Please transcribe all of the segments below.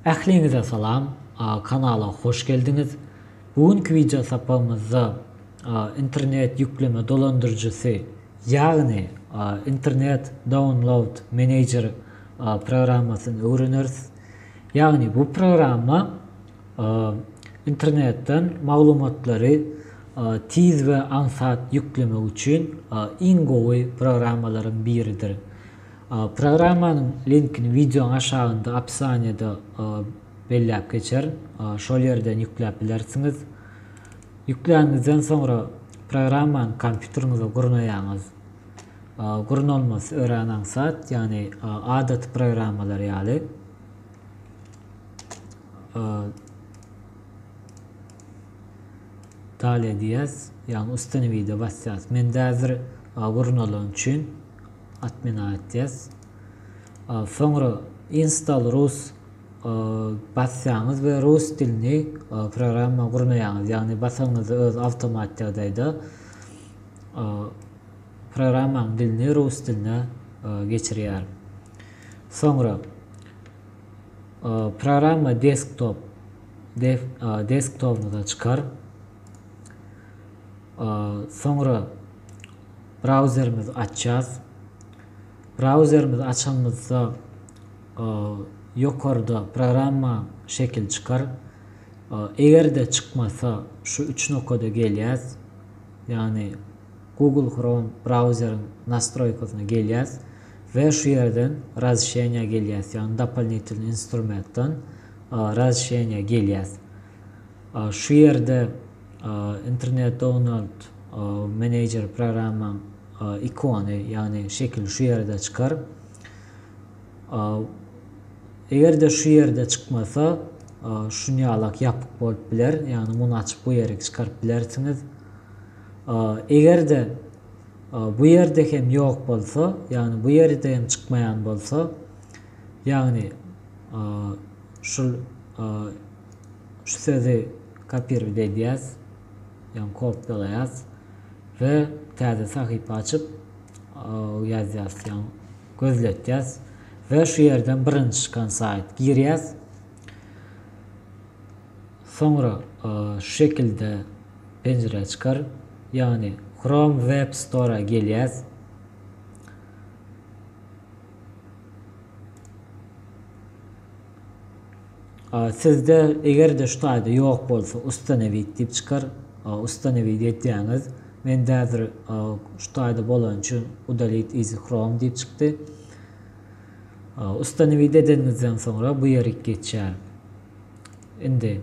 Ähliňize salam, kanala hoş geldiňiz. Bu günki wideo sapagymyzda internet ýükleme dolandyryjysy, ýagny internet download manager programmasyny öwreneris. Ýagny bu programma Internetden maglumatlary tiz we aňsat ýüklemek üçin iň gowy programmalaryň biridir. Programmanyň linkini wideoň aşagynda opisaniýada belläp geçerin, şol ýerden ýükläp bilersiňiz. Ýükläniňizden soňra programmany kompýuteriňize gurnaýaňyz. Gurnalmasy örän aňsat, ýagny adaty programmalar ýaly. Dalýa diýýäs. Ýagny ustanowide basýas. Mende häzir gurnalan üçin atmenowit diýýäs. Soňra install rus basýaňyz we rus dilini programma gurnaýaňyz. Ýagny basanyňyzda öz awtomat ýagdaýda programmanyň dilini rus diline geçirýär. Soňra Programma desktop desktopyňyza çykar. Soňra brauzerimizi açýas. Brauzerimizi açanymyzda ýokarda programma şekili çykar. Eger-de çykmasa şu üç nokada gelýäs. Ýagny Google Chrome brauzeriň nastroýkasyna gelýäs we şu ýerden Razşeniýa gelýäs, ýagny Dopolnitelny instrumentdan Razşeniýa gelýäs. Şu ýerde Internet Downald Manager programmaň ikony, ýagny şekili şu ýerde çykar. Eger-de şu ýerde çykmasa, şunýalak ýapyk bolup biler, ýagny muny açyp bu ýerik çykaryp bilersiňiz. Eger-de bu ýerde hem ýok bolsa, ýagny bu ýerde hem çykmaýan bolsa, ýagny şul şu sözi kopirowat edýäs, ýagny kopýalaýas we täze sahypa açyp ýazýas, ýagny gözletýäs we şu ýerden birinji çykan saýt girýäs. Soňra şu şekilde penjire çykar, ýagny Chrome Web Store-a gelýäs. Sizde eger-de şu taýda ýok bolsa Ustanowit diýip çykar. Ustanowit edýäňiz. Mende häzir şu taýda bolany üçin Udalit iz Chrome diýip çykdy. Ustanowit edeniňizden soňra bu ýerik geçýär. Indi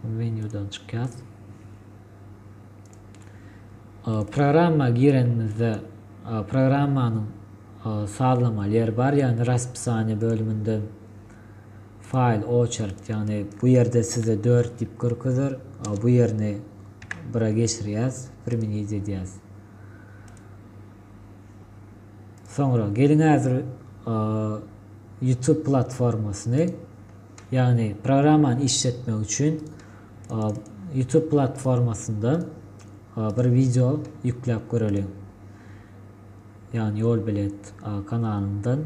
menýudan çykýas. Programma girenimizde programmanyň sazlama ýeri bar, ýagny raspisaniýa bölüminde faýl oçert, ýagny bu ýerde size 4 diýip görkezer, bu ýerini 1-e geçirýäs, primenit edýäs. Soňra geliň häzir YouTube platformasyny ýagny programmany işletmek üçin YouTube platformasyndan bir wideo ýükläp göreliň. Ýagny ýol bilet kanalyndan.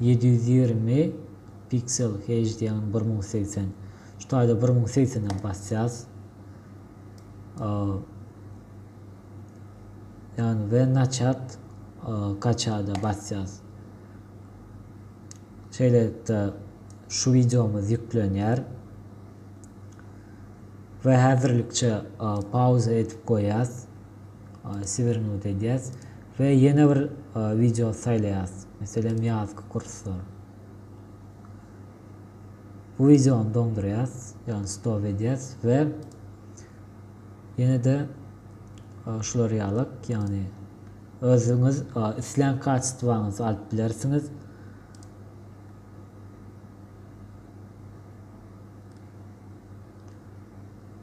Ýedi ýüz ýigrimi piksel HD ýagny bir müň segsen. Şu taýda bir müň segsene basýas. Ýagny we naçat kaçada basýas. Şeýlelikde şu wideomyz ýüklenýär. We häzirlikçe pauza edip goýýas. Swernout edýäs we ýene bir wideo saýlaýas. Meselem, ýazky kurslar. Bu wideony doňdurýas, ýagny stop edýäs we ýene-de şular ýalak, ýagny özüňiz islän kaçestwaňyzy alyp bilersiňiz.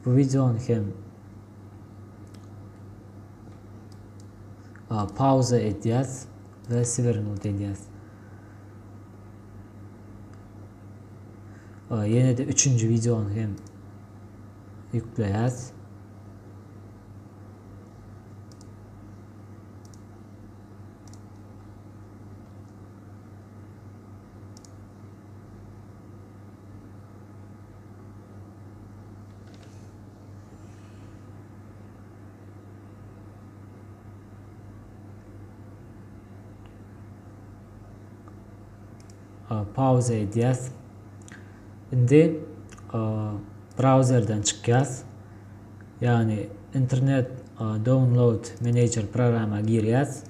Bu wideony hem pauza edýäs we swernuti edýäs. Ýene-de üçünji wideony hem ýükleýäs. pauza edýäs. Indi brauzerden çykýas. Ýagny internet download manager programma girýäs.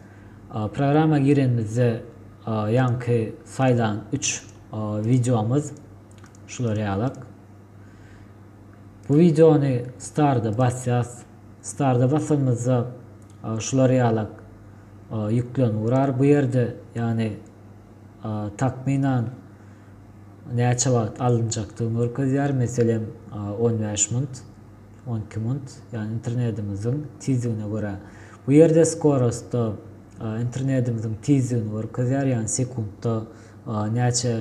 Programma girenimizde ýaňky saýlan 3 wideomyz Şular ýalak. Bu wideony starda basýas. Starda basanymyzda şular ýalak ýüklen urar bu ýerde. Ýagny takmynan näçe wagt alynjakdygyny görkezýär. Meselem 15 munt, 12 munt. Ýagny internetimiziň tizligine görä. Bu ýerde skorostda internetimiziň tizligini görkezýär. Ýagny sekuntda näçe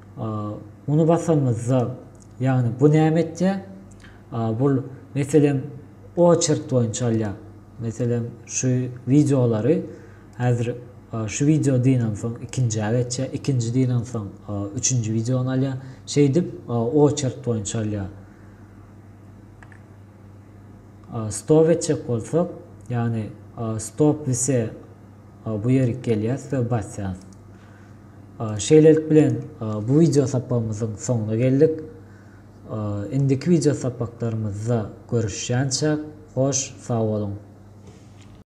Muny basanymyzda, ýagny bu näme etýär? Bul, meselem, oçert boýunça alýar. Meselem, şu wideolary häzir şu wideo diýensoň ikinjä geçýär, ikinji diýensoň üçünji wideony alýar. Şeýdip, oçert boýunça alýar. Stop etjek bolsak, ýagny stop wise bu ýerik gelýär we basýarys. Şeýlelik bilen, bu wideo sapagymyzyň soňuna geldik. Indiki wideo sapaklarymyzda görüşýänçäk, hoş sag boluň!